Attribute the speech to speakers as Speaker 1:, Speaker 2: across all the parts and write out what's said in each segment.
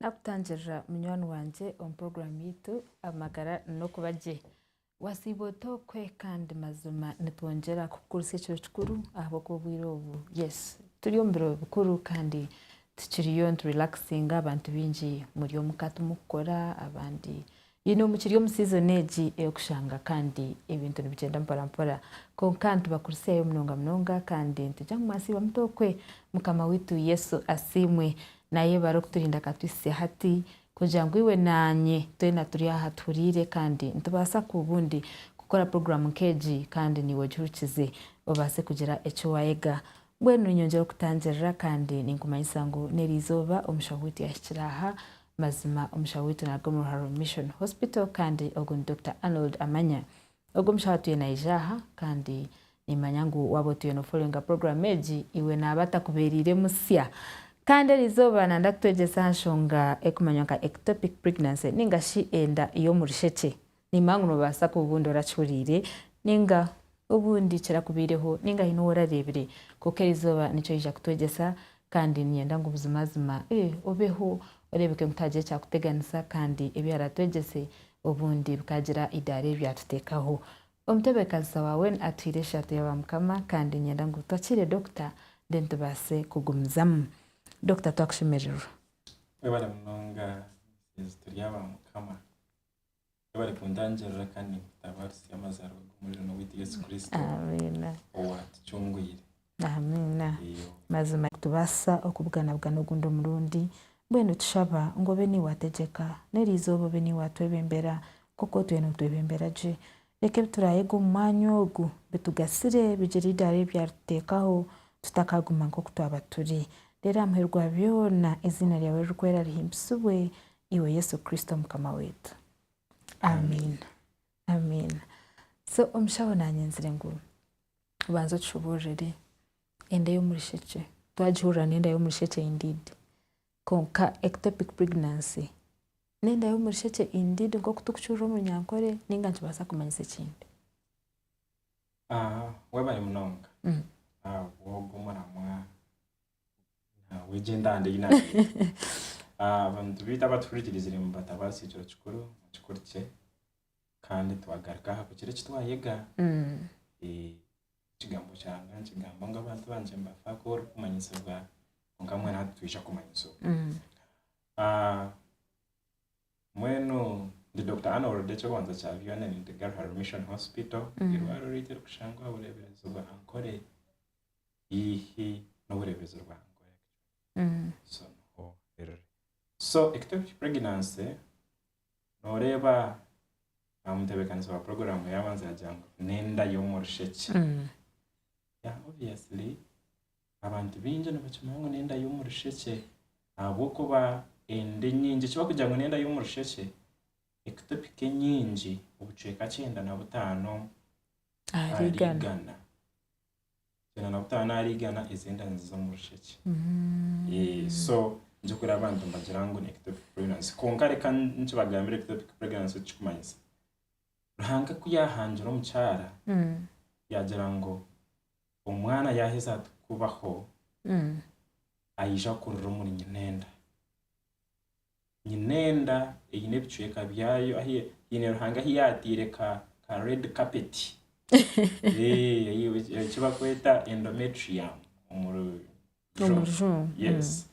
Speaker 1: Nakutangirira munywani wangye omu puroguramu yaitu Amagara n'Okuba Gye. Wasiiba ota okwe? Kandi mazima nitwongyera kukugutsya ekiro kikuru ahabw'okuba obwire obu yesi turi omu biro bikuru kandi tukiriyo niturelakisinga. Abantu baingi muri omuka timukukora, abandi Ine omu kiri omu season egi ey'okushanga kandi ebintu nibigyenda mpora mpora kwonka nitubakurisyayo munonga munonga kandi nitugya ngu mwatsiibwa muta okwe Mukama waitu Yesu asiimwe nayebare okuturinda akatwitsya hati kugira ngu iwe naanye twena turi aha tuhuriire kandi nitubaasa ku bundi kukora program nk'egi kandi niiwe ogihurukize obaase kugira eki wayega Mbwenu nyongyera okutangirira kandi ninkumanyisa ngu n'eri izooba omusha witu yahikire aha. Mazima omusha witu naaruga omu Ruharo Mission Hospital kandi ogu ni Dokita Arnold Amanya. Ogu omushaho atuye naija aha kandi nimmanya ngu waaba otuye nofollowinga puroguraamu egi, iwe naaba atakubeereire musya. Kandi eri izooba nanda kutwegyesa aha nshonga erikumanywa nka Ectopic Pregnancy ninga shi enda y'omu rushekye. Nimba ngu noobaasa kuba obundi orakihuriire, ninga obundi kirakubaireho, ninga haine ou orareebire. Kwonka eri izooba nikyo oija kutwegyesa, kandi niinyenda ngu buzimazima obeho oreebeke ngu tihariho ekyakuteganisa, kandi ebi aratwegyese obundi bikaagira eidaara eri byatuteekaho. Omutebeekanisa waawe atwiire eshaato ya Baamukama, kandi niinyenda ngu twakiire Dokita, then tubaase kugumizamu. Dokita, twakushemererwa. Webale
Speaker 2: munonga, Museezi. Turi aba Mukama. barikutangirira kandi nikutabaarisa amazaarwa g'Omurugaine
Speaker 1: waitu
Speaker 2: Yesu Kristo owaatucungwire. Amiina.
Speaker 1: Mazima nitubaasa okubuganabugana ogundi omurundi. Mbwenu tushaba ngu obe niiwe ategyeka, n'erizooba obe niiwe atwebembera nk'oku otwire nootwebembera gye. Reka ebi turaayega omu mwanya ogu bitugasire, bigire eidaara eri byarituteekaho, tutakaaguma nk'oku twaba turi. Reero aha muheru gwa byona eiziina ryawe ririkwera rihimbisibwe, iwe Yesu Kristo Mukama waitu. Amiina. Amiina. So omushaho naanyenzire ngu obanze otushoboororere enda y'omurishekye. Twagihurira n'enda y'omurishekye indeed. Kwonka ectopic pregnancy n'enda y'omurishekye indeed nk'oku turikukihuurira omuri Nyankore nainga nikibaasa kumanyisa ekindi?
Speaker 2: Waaba ari munonga, ahabw'ogwo muramwa. Egyo entanda ei naareeta. Abantu beitu abatuhurikirizire mubatabaase ekiro kikuru mukikurikye kandi twagaruka aha kugira eki twayega. Ekigambo kyanga nikigamba ngu abantu bangye nibafa kuba orikumanyisibwa kwonka mbwenu hati twija kumanyisibwa. Mbwenu ndi Dokita Arnold eky'okubanza kya byona ndi Gariha Mission Hospital eirwariro ryaitu erikushangwa Bureebirezi Ankole. haihi n'obureebezi bwa so ectopic pregnancy nooreeba aha mutebeekanisa wa puroguraamu yaabanza yaagira ngu n'enda y'omu rushekye obviously abantu baingi nibakimanya ngu n'enda y'omu rushekye ahabw'okuba enda enyingi eki barikugira ngu n'enda y'omu rushekye ectopic enyingi obucweka kyenda na butaano ahari igana Byona na kutaba naarigana ezi enda niziza omu rushekye. Eh, so nigye kureeba abantu nibagira ngu ni ectopic pregnancy. Kwonka reka nikibagambira ectopic pregnancy eki kikumanyisa. Ruhanga ku yaahangira omukyara, yaagira ngu omwana yaaheza ati kubaho, aija kurira omuri nyina enda. Nyine enda eine ebicweka byayo ahi haine Ruhanga ahi yaataire ka ka red carpet. Eh, ei- ei- eki bakweta endometrium omu ru- omu rujungu. rujungu Yes.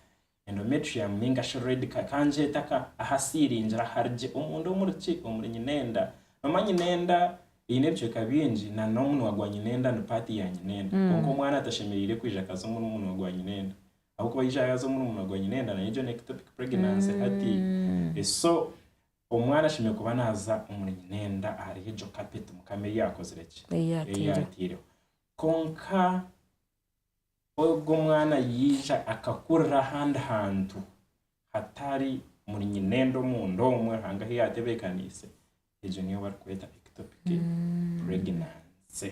Speaker 2: Endometrium ninga shi red ka kangyeta ka ahasiiringire ahari gye omunda omuri ki? Omuri nyine enda. Noomanya nyine enda eine ebicweka bingi na n'omunwa gwa nyine enda ni part ya nyine enda. Kwonka omwana tashemereire kwija akaza omu munwa gwa nyine enda. Ahabw'okuba yaija yaaza omurumuna gwa Nyinenda nayo egyo ni ectopic pregnancy hati so omwana ashemereire kuba naaza omuri Nyinenda ahari egyo carpet Mukama ei yaakozire ki? Ei yaataireho. Yaataireho. Kwonka ogwo omwana yaija akakurira ahandi hantu hatari omuri Nyinenda omunda omwo Ruhanga ahu yaatebeekaniise, egyo niyo barikweta ectopic pregnancy.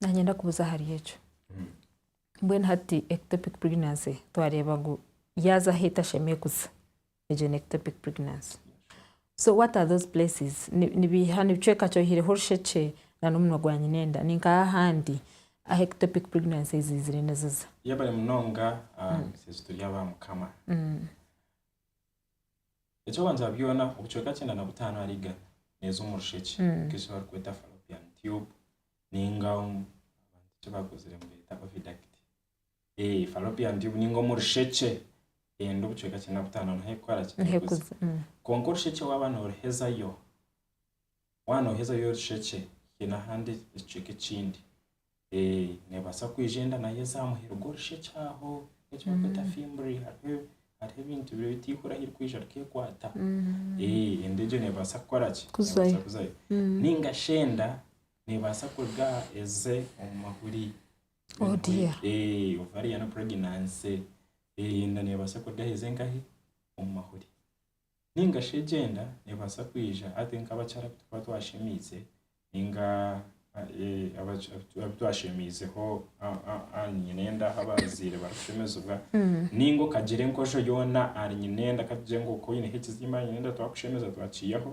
Speaker 1: nanyenda kubuza ahari ekyo mbwenu hati ectopic pregnancy twareeba ngu yaaza ahu etashemereire kuza egyo ni ectopic pregnancy so what are those places nibiiha nibicweka ki oyihireho orushekye na nomunwa gwa nyina enda ninkaha ahandi ahu ectopic pregnancy ziizire niziza. Yebare munonga
Speaker 2: ah misasi turi aba mukama. Ekyokubanza byona obucweka kyenda na butano ahari igana neeza omu rushekye nk'eki barikweta fallopian tube ninga eki bakozire nibeeta oviduct. Fallopian tube ninga omu rushekye enda obucweka kyenda na butano niho erikukoraki? Niho erikuza. Kwonka orushekye waaba noruhezayo waaba nooheza ory'omu rushekye haine ahandi ekicweka ekindi neebaasa kwija enda naaheza aha muheru gw'orushekye aho eki barikweta fimbiri hariho hariho ebintu biri ebi eihura ahu ririkwija rikeekwata enda egyo neebaasa kukora ki? Neebaasa kuzayo nainga shi enda neebaasa kuruga aha eze omu mahuri ovarian pregnancy enda neebaasa kuruga aha eze nkahi? Omu mahuri. Ninga shi egyenda neebaasa kwija hati nk'abakyara abu turikuba twashemeize ninga abu twashemeizeho ahari nyina enda ahu abazaire barikushemezibwa ninga okagira enkojo yoona ahari nyina enda ka tugire ngu oku oine ekiziimba ahari nyina enda twakushemeza twakiihaho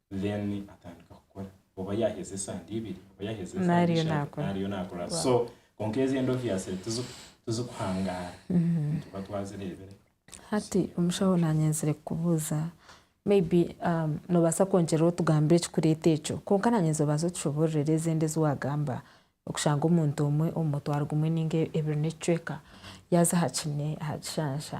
Speaker 2: then atandika kukora oba yaheza esande ibiri oba yaheza esande ishatu nariyo
Speaker 1: nakora
Speaker 2: so konka ezi endoviasire tizikuhangara mm-hmm. nituba twazirebire hati
Speaker 1: omushaho nanyenzire kukubuuza maybe um, nobasa kwongyerera otugambira ekikureeta ekyo konka nanyenzire obanza otushobororera ezindi ezi wagamba okushanga omuntu omwe omu mutwaro gumwe ninga ebiri n'ekicweka yaza aha kine aha kishansha